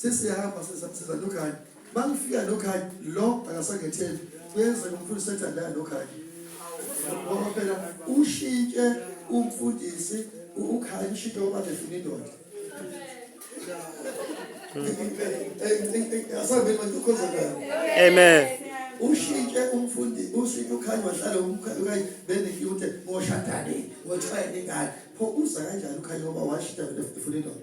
sesiyahamba siza nokhanye mangifika nokhanye lo akasangetheli kuyenzeka umfundisi ethandana nokhanye ngoba phela ushintshe umfundisi ukhanye ushintshe ngoba nefuna indoda asambeni mantukhozakala amen ushintshe umfundi ushintshe ukhanye wahlala umkhanye benekute ngoshadane ngothwayene ngane pho uza kanjani ukhanye ngoba washintsha nefuna indoda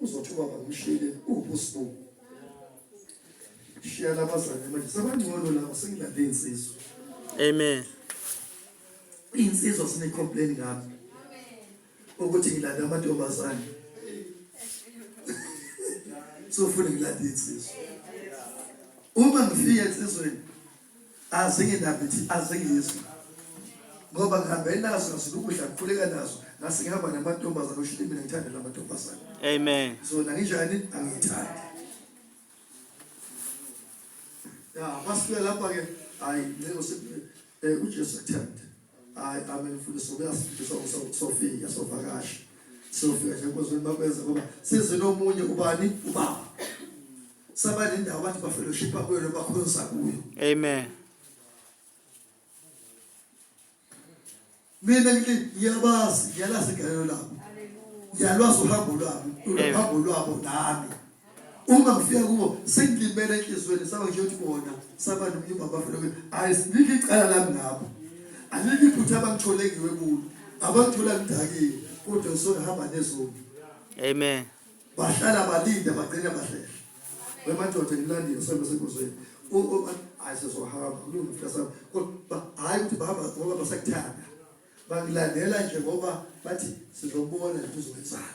uzothi ubaba ngimshiyele uwubusibu shiya labazane manje sabangcono laba sengilande insizwa amen insizwa sine complain ngami ukuthi ngilanda amantombazane sofuna ngilanda insizwa uma ngifika ensizweni azinginaki ngithi azingizwa ngoba ngihambe nazo ngasuke ukudla ngikhuleka nazo ngase ngihamba namantombazane oshile mina ngithanda la mantombazane amen so nanginjani angiyithandi ya masifika lapha ke hayi ncingo sekuye eh, uJesu athanda hayi amen mfundisi uyasifundisa usofika sovakasha sofika nje nkozweni bakwenza ngoba sizinomunye ubani ubaba saba nendawo abantu bafellowshipa kuyo noma bakhonza kuyo amen mina ngithi ngiyabazi ngiyalazi igalelo labo ngiyalwazi uhambo lwabo uhambo lwabo nami uma ngifika kubo sengilimele enhliziyweni saba nje ukuthi bona saba nomnyumba bafellowship ayi sinike icala lami ngabo anike iphutha abangithole ngiwe kulo abangithola ngidakile kodwa sona hamba nezoni amen Bahlala balinde bagcine bahlehla. Wemadoda ngilandile sembe senkosini. Hayi sezohamba kulunga mfasami. Kodwa hayi ukuthi bahamba ngoba basakuthanda. Bangilandela nje ngoba bathi sizobona kuzowenzana.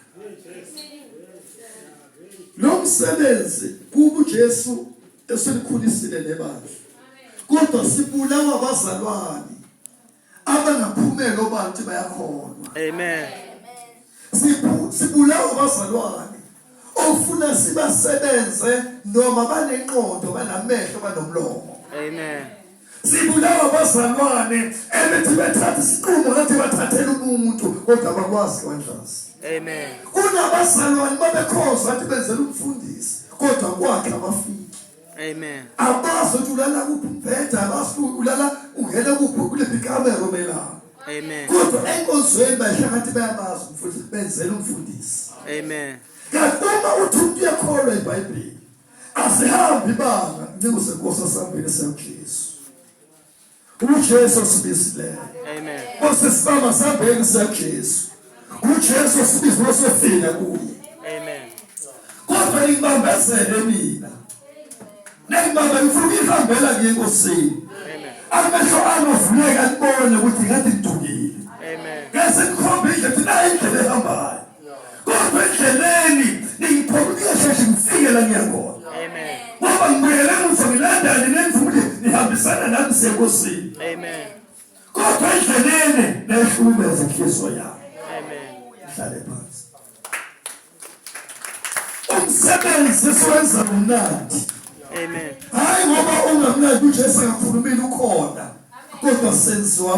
Lo msebenzi kuba uJesu eselikhulisile nebandla. Kodwa sibulawa bazalwane. abangaphumeli obantu bayakholwa amen sibulawa abazalwane ofuna sibasebenze noma banenqondo banamehlo banomlomo amen sibulawa abazalwane ebethi bethatha isiqumo ngathi bathathela umuntu kodwa abakwazi kwanhlazi amen kunabazalwane babekhoza athi benzela umfundisi kodwa kwakhe abafiki Amen. Abazi ukuthi ulala kuphi umbheda, abazi ukuthi ulala ungena kuphi kuliphi ikamera omelapho. Amen. Kodwa enkonzweni bahlakanithi bayabazi umfundisi benzela umfundisi. Amen. Kanti uma uthi umuntu uyakholwa iBhayibheli asihambi ibanga ncingo senkosi asambile siyamkhisa. uJesu sibizileyo amen Nkosi sibaba sabheki saJesu uJesu sibizwe sofika kuye amen kodwa ibambezele mina nengibamba ngifuna ihambela ngiye enkosini amehlo ami avuleka kubone ukuthi ngathi ngidukile amen ngase ngikhombe indlela nayi indlela ehambayo kodwa endleleni ningiphumile sheshe ngifike la ngiyakhona ngoba ngibuyele emuva ngilandane nenifumile nihambisana nami sekosini kodwa endleleni nayihlukumeza inhliziyo yami ihlale phansi umsebenzi siwenza ngomnandi hayi ngoba ungamnandi ujesu akakhulumile ukhona kodwa senziwa